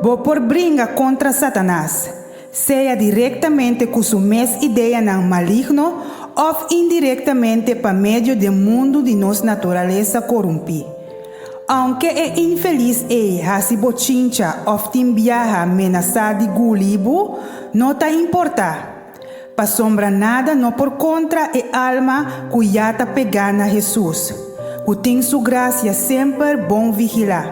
Bo por bringa kontra Satanas, sea direktamente ku su mes ideanan maligno òf indirektamente pa medio den mundu di nos naturalesa korumpí. Aunke e infelis ei hasi bochincha of tin biaha menasá di gulí bo, no ta importá. Pasobra nada no por kontra e alma ku ya ta pegá na Hesus, ku tin Su grasia semper bon vigilá.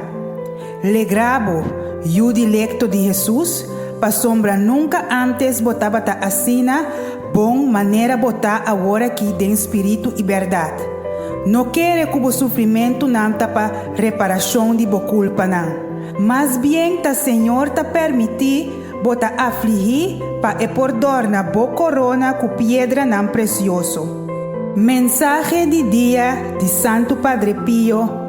Legrá bo, yu dilekto di Hesus, pasobra nunka ántes bo tabata asina, Bon manera bo ta awor aki den spiritu i bèrdat. No kere ku bo sufrimentunan ta pa reparashon di bo kulpanan. Mas bien ta Señor ta pèrmití bo ta aflihí pa e por dòrna bo korona ku piedranan presioso. Mensahe di dia di Santu Padre Pio.